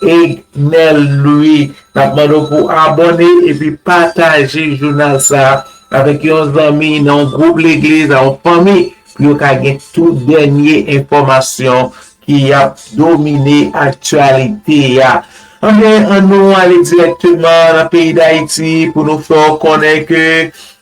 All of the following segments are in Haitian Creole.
Egnel Louis nap mande w pou abone epi pataje jounal sa avèk yon zanmi nan yon gwoup legliz nan yon fanmi pou yo ka gen tout dènye enfòmasyon ki ap domine aktyalite a anben an nou ale dirèkteman nan peyi dayiti pou nou fè w konnen ke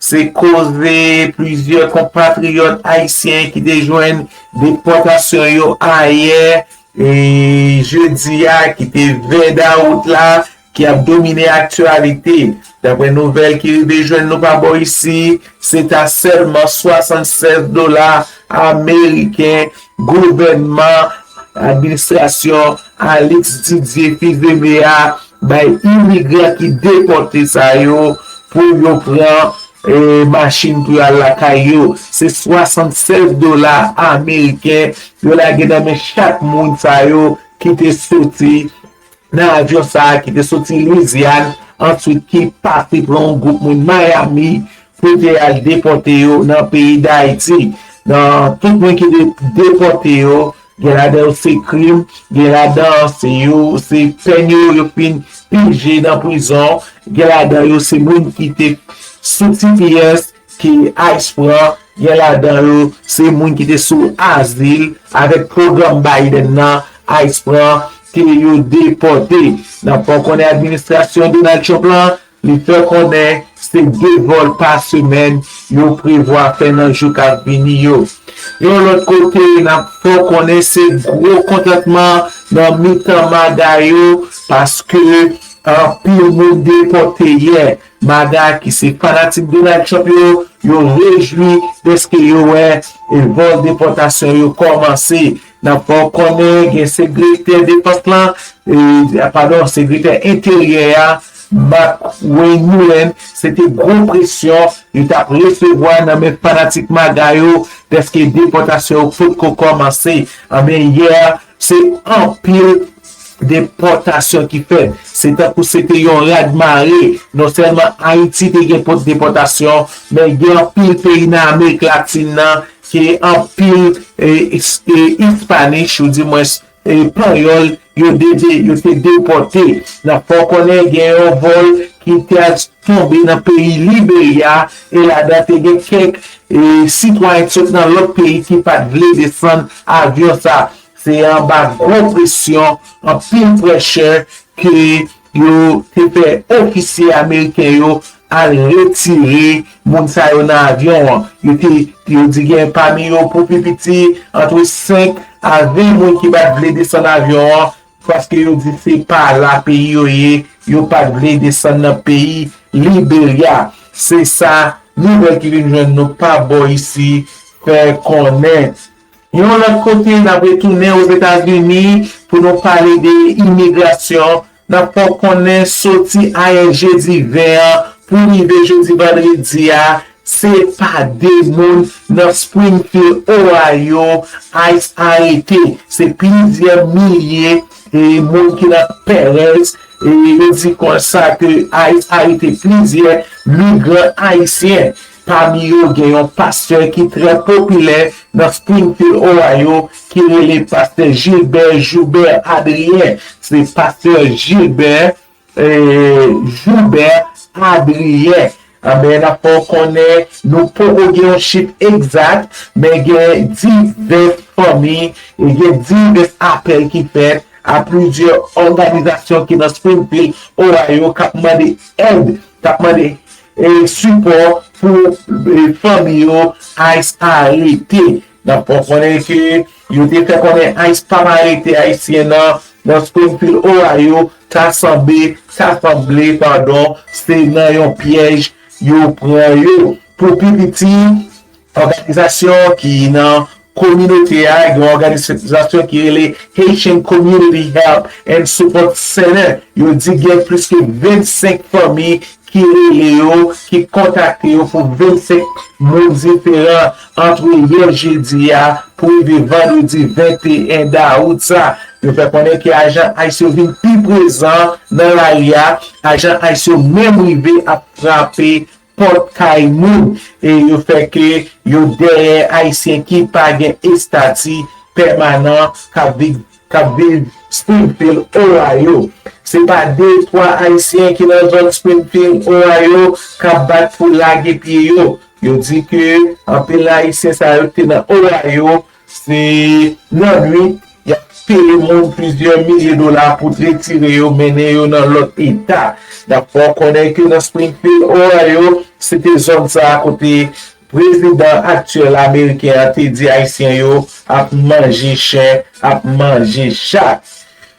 se koze plizyè konpatriyòt ayisyen ki te jwenn depòtasyon yo ayè E jedi a ki te 20 dawout la ki ap domine aktyalite. Daprè nouvèl ki rive jwenn nou pa bò isi, se ta sèlman 76 dola ameriken gouvènman administrasyon Alix Didier Fils-Aimé a Bay imigran ki depòte sa yo pou yo pran machin pou yo al lakay yo. Se 76 dola ameriken yo lage nan men chak moun sa yo ki te soti nan avyon sa a ki te soti Lwizyàn answit ki pase pran yon gwoup moun Mayami pou te al depòte yo nan peyi Dayiti. Tout moun ki te depòte yo Gen ladan yo se krim, gen ladan se yo se pèn yo yo fin pije nan prizon, gen ladan yo se moun ki te sou tps ke ice pran, gen ladan yo se moun ki te sou azil avèk pwogram Biden nan ice pran ke yo depòte. Nan fè w konnen administrasyon Donald Trump lan Li fè konnen se 2 vòl pa semèn yo prevwa fè nan jou k ap vini yo. Yon lòt kote, n ap fè w konnen se gwo kontantman nan mitan MAGA yo paske anpil moun depòte yè. MAGA ki se fanatik Donald Trump yo, yo rejwi dèske yo wè vòl depòtasyon yo kòmanse. Nan fè w konnen gen segretè defans lan, padon, segretè enteryè a, Mark Wayne Mullen, se te gwo presyon li t ap resevwa nan men fanatik MAGA yo dèske depòtasyon yo potko kòmanse. Anben, yè a, se anpil depòtasyon ki fèt. Se tankou se te yon radmare. Non sèlman Ayiti te gen pot depòtasyon, men gen anpil peyi nan Amerik Latin nan, Ke anpil Ispanich ou di mwens Panyòl yo dete yo te depòte nan fè w konnen gen yon vòl ki te al tonbe nan peyi Liberya e ladan te gen kèk sitwayen ki sot nan lòt peyi ki pa t vle desann avyon sa. Se anba gwo presyon, anpil prèshè ke Yo te fè ofisye ameriken yo al retire moun sa yo nan avyon an. Yo te yo di gen pami yo pou pi piti antre 5 a 20 moun ki pa t vle desann avyon an paske yo di se pa la peyi yo ye, yo pa t vle desann nan peyi Liberya. Se sa nouvèl ki vin jwenn nou pa bò isi fè konnen. Yon lòt kote, n ap retounen Ozetazini pou nou pale de imigrasyon. N ap fè w konnen soti ayè jedi 20 an pou rive jodi vandredi a, se pa 2 moun nan Springfield, Ohio, ice arete. Se plizyè milye moun ki nan Perez. Yo di konsa ke ice arete plizyè migran ayisyen. Pami yo gen yon pastè ki trè popilè nan Springfield, Ohio, ki rele pastè Gilbert Joubert Adrien. Se pastè Gilbert Joubert Adrien. Anben, n ap fè w konnen nou poko gen yon chif egzat, men gen divès fanmi, gen divès apèl ki fèt a plizyè òganizasyon ki nan Springfield, Ohio, k ap mande èd, k ap mande Sipò pou fanmi yo ice arete nap fè konnen ke yo te fè konnen ice pap arete ayisyen nan nan Springfield Ohio ta sanbe ta sanble padon se nan yon pyèj yo pran yo pou pi piti Òganizasyon ki nan kominote a, gen yon òganizasyon ki rele Haitian Community Help and Support Center, yo di gen plis ke 25 fanmi ki rele yo, ki kontakte yo pou 25 moun diferan antre yè jedi a pou rive vandredi 21 dawout sa. Yo fè konnen ke ajan ice yo vin pi prezan nan lari a, ajan ice yo menm rive ap frape pòt kay moun e yo fè ke yo dèyè ayisyen ki pa gen estati pèmanan k ap viv Springfield, Ohio. Se pa de twa ayisyen ki nan zòn Springfield, Ohio k ap bat pou lage pye yo. Yo di ke anpil nan ayisyen sa yo ki te nan Ohio Se nan nwit y ap sere moun plizyè milye dola pou tretire yo mennen yo nan lòt eta. N ap fè w konnen ke nan Springfield, Ohio, se te zòn sa a kote prezidan aktyèl ameriken an te di Ayisyen yo ap manje chen, ap manje chat.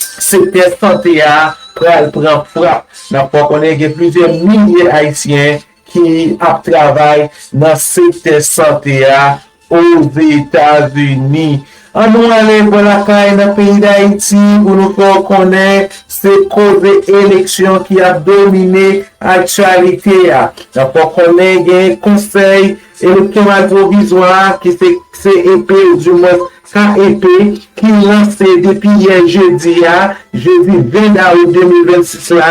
Sektè sante a pral pran frap. N ap fè w konnen gen plizyè milye ayisyen ki ap travay nan sektè sante a Ozetazini. An nou ale bò lakay nan peyi Dayiti pou nou fè w konnen se koze eleksyon ki ap domine aktyalite a. N ap fè w konnen gen konsèy elektyonal pwovizwa ki se CEP ou dimwens KEP, ki lanse depi yè jedi a, jedi 20 dawout 2026 la,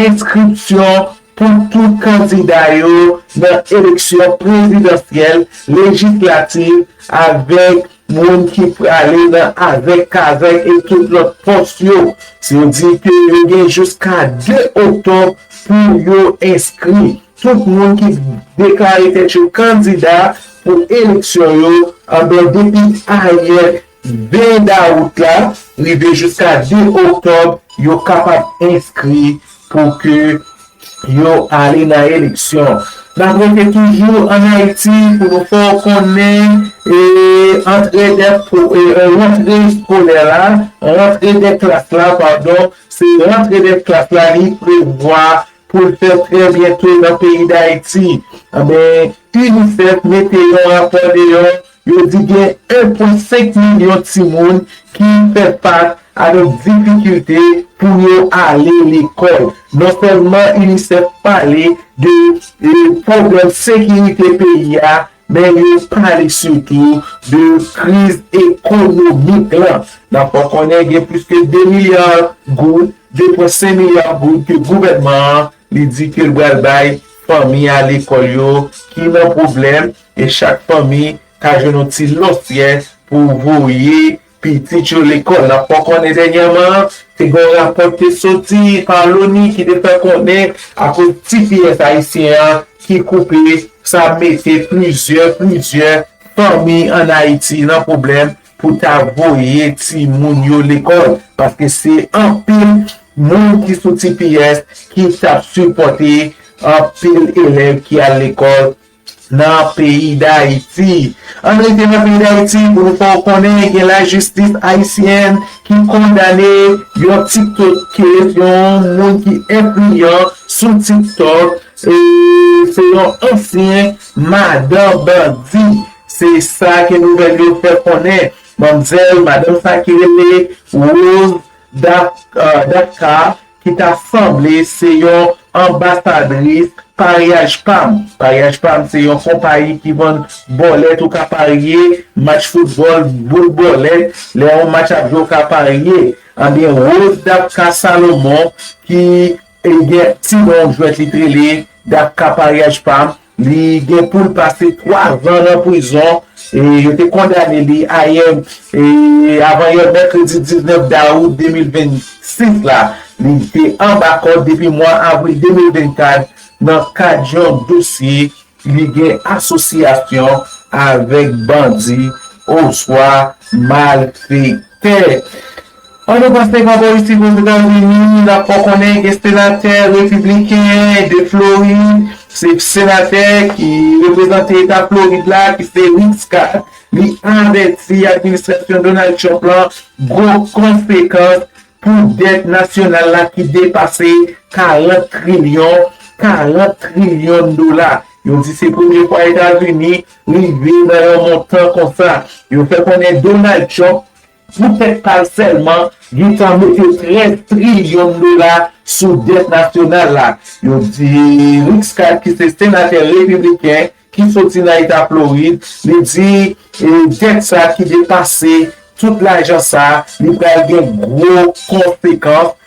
enskripsyon pou tout kandida yo nan eleksyon prezidansyèl, lejislativ avèk moun ki prale nan avèk kazèk e tout lòt pòs yo. Yo di ke yo gen jiska 2 oktòb pou yo enskri. Tout moun ki deklare tèt yo kandida pou eleksyon yo anben depi ayè 20 dawout la rive jiska 2 oktòb yo kapab enskri pou ke yo ale nan eleksyon. N ap rete toujou an Ayiti pou nou fè w konnen antre dè rantre eskolè la, rantre dè klas la padon, se rantre dè klas la li prevwa pou l fèt trè byento nan peyi Dayiti, anben UNICEF mete yon rapò deyò, yo di gen 1 pwen 5 milyon timoun ki fè fas avèk difikilte pou yo ale lekòl. Non sèlman UNICEF pale de pwoblèm sekirite peyi a Men yo pale sitou de kriz ekonomik la. N ap fè konnen gen plis ke 2 milya goud, 2 pwen 5 milya goud ke gouvènman an li di ke l bal bay fanmi a lekòl yo ki nan pwoblèm e chak fanmi ka jwenn yon ti lòsyè pou voye Pitit yo lekòl. N ap fè w konnen dènyèman an, te gen yon rapò ki te soti pa Loni ki te fè konnen akoz tps ayisyen an ki koupe, sa mete plizyè, plizyè fanmi ann Ayiti nan pwoblèm pou ta voye timoun yo lekòl paske se anpil moun ki sou tps ki t ap sipòte anpil elèv ki al lekòl. Nan peyi Dayiti. Ann rete nan peyi Dayiti pou nou fè w konnen gen lajistis ayisyèn ki kondane yon tiktokè, yon moun ki enfliyan sou tiktok, se yon ansyen madan bandi, se sa ke nouvèl yo fè konnen. Manmzèl, madanm sa ki rele Rose Dacca ki ta sanble se yon anbasadris paryaj pam paryaj pam se yon konpayi ki vann bòlèt ou ka parye match foutbòl boul bòlèt lè yon match ap jwe ou ka parye anbyen Rose Dapka Salomon ki gen ti non jwèt li t rele Dapka paryaj pam Li gen poul pase 3 van nan prizon e yo te kondane li ayè e avan yè mèkredi 19 dawout 2026 la. Li te anba kòd depi mwa avril 2024 nan kad yon dosye li gen asosyasyon avèk bandi oswa malfektè. An nou panse pa bò isit o Zetazini n ap fè w konnen gen senatè repibliken de Florid, se senatè ki reprezante eta Florid la ki se Rick Scott, li avèti administrasyon Donald Trump lan gwo konsekans pou dèt nasyonal la ki depase 40 trilyon, 40 trilyon dola. Yo di se premye fwa Etazini rive nan yon montan konsa. Yo fè konnen Donald Trump. Pou tèt pa l sèlman, Gita mete 13 trilyon dola sou dèt nasyonal la. Yo di Rick Scott ki se senatè repibliken ki soti nan eta Florid, li di dèt sa ki depase tout lajan sa, li pral gen gwo konsekans.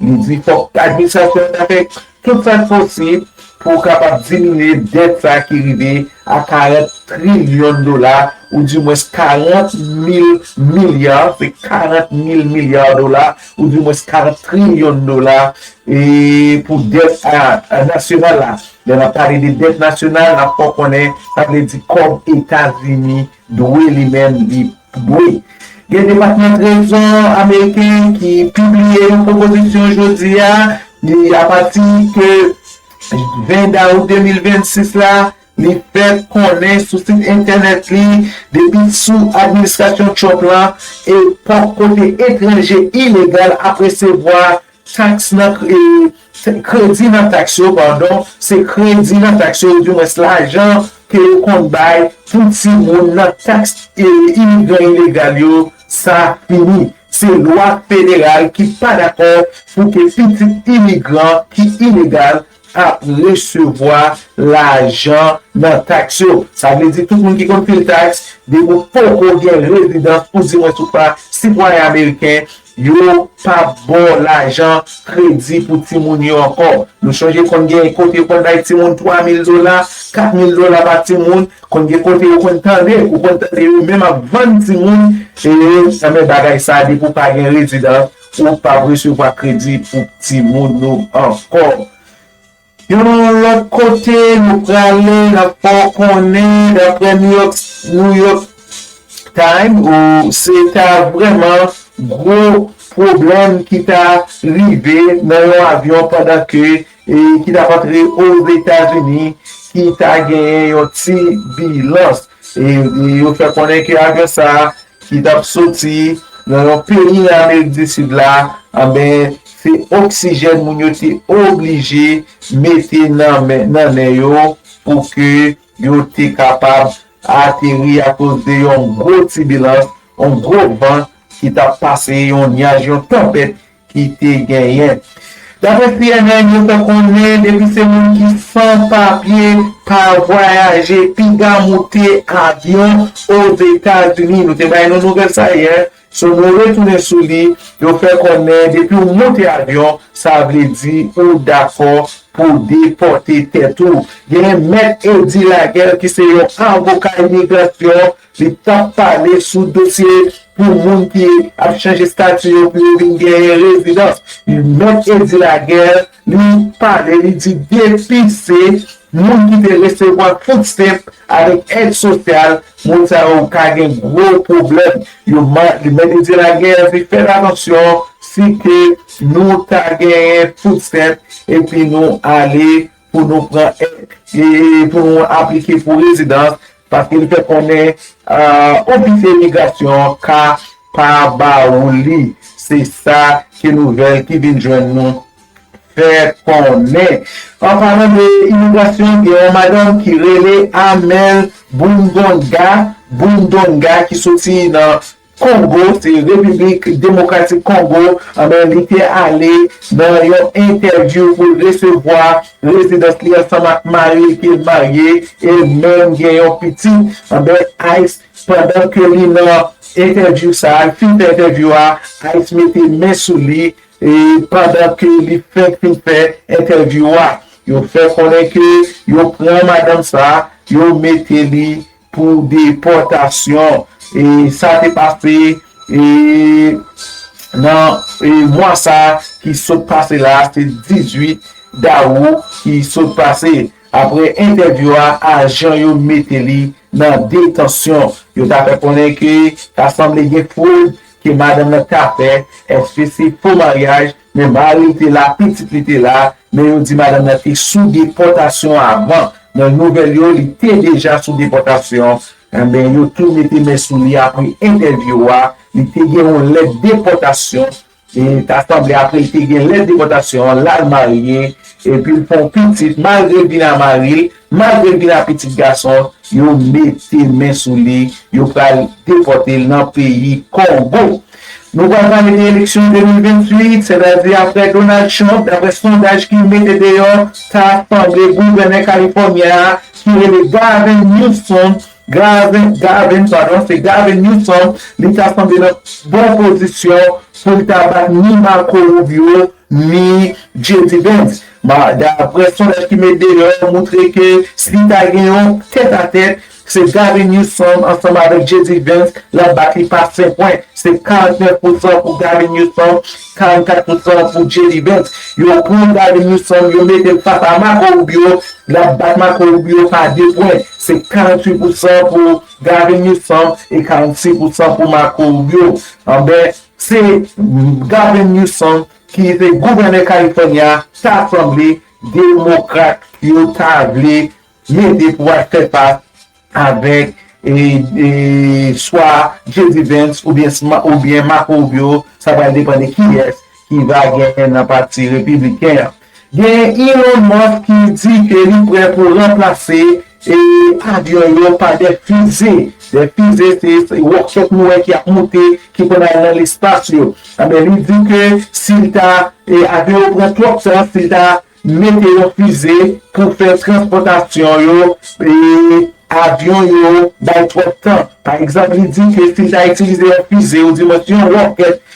Li di fòk administrasyon an ta fè tout sa k posib pou kapab diminye dèt sa ki rive a 40 trilyon dola ou di mwens 40 mil milya, se 40 mil milya dola ou di mwens 40 trilyon dola e pou dèt nasyonal la. Lè n ap pale de dèt nasyonal n ap fè w konnen sa vle di kòb Etazini Dwe li menm di dwe. Gen Depatman Trezò ameriken ki pibliye yon pwopozisyon jodi a, li apati ke 20 dawout 2026 la, li fè konnen sou sit entènèt li, depi sou administrasyon Trump la, epòk kote etranje ilegal ap resevwa Taks nan Kredi nan taks yo padon se kredi nan taks yo oudimwens lajan ke yo konn bay pou timoun nan taks imigran ilegal yo sa fini se lwa federal ki pa dakò pou ke pitit imigran ki ilegal ap resevwa lajan nan taks yo. Sa vle di tout moun ki konn pil taks, depi w poko gen rezidans ou di mwen sou pa sitwayen ameriken, yo pa p ba w lajan kredi pou timoun yo ankò. Nou sonje konn gen kote yo konn bay timoun 3 mil dola, 4 mil dola pa timoun, konn gen kote yo konn tande, ou konn tande yo menm ap vann timoun, e nan men bagay sa depi w pa gen rezidans, Si w pa resevwa kredi pou timoun ou ankò. Yon lòt kote nou prale n ap fè w konnen daprè New York Times ou se ta vrèman gwo pwoblèm ki ta rive nan yon avyon pandan ke Peyi ki tap antre Ozetazini ki ta genyen yon ti bilans. Yo fè konnen ke avyon sa ki tap soti nan yon peyi nan Amerik di Sid la, anben se oksijèn moun yo te oblije mete nan nen yo pou ke yo te kapab ateri akoz de yon gwo tibilans, yon gwo van ki tap pase, yon nyaj, yon tanpèt ki te genyen. Dapre cnn, yo fè konnen depi se moun ki san papye pa vwayaje piga moute avyon Ozetazini. Nou te bay nou nouvèl sa yè, so nou retounen sou li, yo fè konnen depi w moute avyon sa vle di ou dakò pou depòte tèt ou. Genyen Mèt Eddy Laguerre ki se yon avoka imigrasyon. Li pap pale sou dosye pou moun ki ap chanje stati yo pou yo vin genyen rezidans. Mèt Eddy Laguerre li pale li di depi se moun ki te resevwa food stamp avèk èd sosyal moun sa yo ka gen gwo pwoblèm. Yo Mèt Eddy Laguerre di fèt atansyon si ke nou ta genyen food stamp epi nou ale pou nou pran èd e pou nou aplike pou rezidans paske li fè konnen ofis imigrasyon ka pa ba ou li, se sa ke nouvèl ki vin jwenn nou fè konnen. An palan de imigrasyon gen yon madanm ki rele Amel Bundonga Bundonga ki soti nan. Kongo, se Repiblik Demokratik Kongo, anben li te ale nan yon entèvyou pou l resevwa rezidans li ansanm ak mari li ki marye e menm gen yon pitit, anben ice pandan ke li nan entèvyou sa, li fin fè entèvyou a, ice mete men sou li e pandan ke li fenk fin fè entèvyou a, yo fè konnen ke yo pran madanm sa, yo mete li Pou depòtasyon sa te pase nan mwa sa ki sot pase la, se 18 dawou ki sot pase. Aprè entèvyou a, ajan yo mete li nan detansyon. Yo ta fè konnen ke ta sanble gen fwod ke madanm nan ta fè. Eske se fo maryaj? Men mari l te la, pitit li te la, men yo di madanm nan te sou depòtasyon avan. Nan nouvèl yo, li te deja sou depòtasyon. Anben, yo tou mete men sou li apre entèvyou a. Li te gen yon lèt depòtasyon. E ta sanble apre li te gen lèt depòtasyon an, l al marye, epi l fè yon pitit malgre l vin a mari l. Malgre gen a pitit gason yo mete men sou li yo pral depòte l nan peyi Kongo. Nou pral pale de eleksyon 2028, sètadi aprè Donald Trump daprè sondaj ki mete deyò ta sanble gouvènè Kalifònyen a ki rele Gavin Newsom, Gavin, Gavin padon se Gavin Newsom li ta sanble nan bon pozisyon pou l ta bat ni Marco Rubio ni JD Vance. Daprè sondaj ki met deyò moutre ke si ta gen yon tèt a tèt, se Gavin Newsom ansanm avèk JD Vance lap bat li pa 5 pwen. Se 49 pousan pou Gavin Newsom, 44 pousan pou JD Vance. Yo pran Gavin Newsom yo mete l fas a Marco Rubio, lap bat Marco Rubio pa 2 pwen. Se 48 pousan pou Gavin Newsom e 46 pousan pou Marco Rubio. Anben se Gavin Newsom ki te gouvènè California ta sanble demokrat yo ta vle mete pou al fè fas avèk swa JD Vance oubyen Marco Rubio sa pral depan de kiyès ki va gen nan pati repibliken an. Gen Elon Musk ki di ke li prè pou ranplase. Se pa de yon pa de fize, de fize se wòkchòt nou wè ki ap moute ki konn al nan lespas yo. Anben li di ke si l ta avyon yo pran twòp tan, si l ta mete yon fize pou fè transpòtasyon yo, avyon yo bay twòp tan. Pa egzanp li di ke si l ta itilize yon fize ou dimens yon wòkèt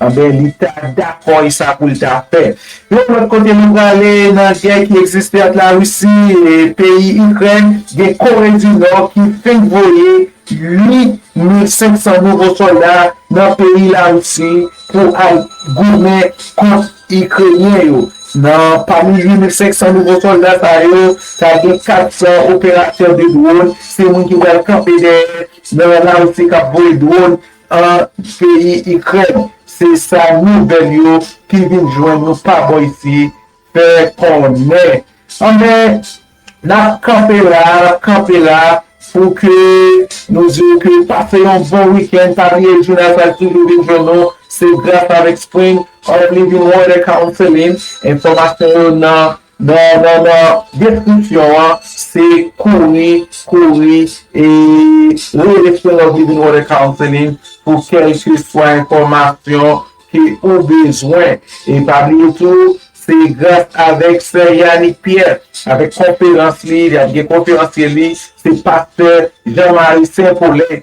Anben, li ta dakò e sa pou l ta fè. Yon lòt kote nou prale, nan gè ki egziste ant Larisi e peyi Ikrèn, gen Kore di Nò ki fenk voye 8,500 nouvo sòlda nan peyi Larisi pou al goumen kont Ikrenyen yo. Nan pami 8,500 nouvo sòlda sa yo, ta gen 400 operatè de dwòn, se moun ki pral kanpe dèyè nan Larisi k ap voye dwòn an peyi ikrèn se sa nouvèl yo ki vin jwenn nou pa bò isi fè konnen anbè nap kanpe la nap kanpe la pou ke nou di ou ke pase yon bon weekend pa bliye jounal sa toujou vin jwenn nou se gras avèk spring of living water counseling enfòmasyon yo nan. Non non non deskripsyon an se kouri kouri e rele sou non Living Water Counseling pou kelke swa enfòmasyon ke ou bezwen e pa bliye tou se gras avèk sè Yanick Pierre avèk konferans li, li ap gen konferansye li se pastè Jean Marie Saint Paulin.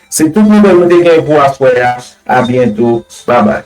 Se tout nouvel nou te gen pou aswè a, a byento, babay.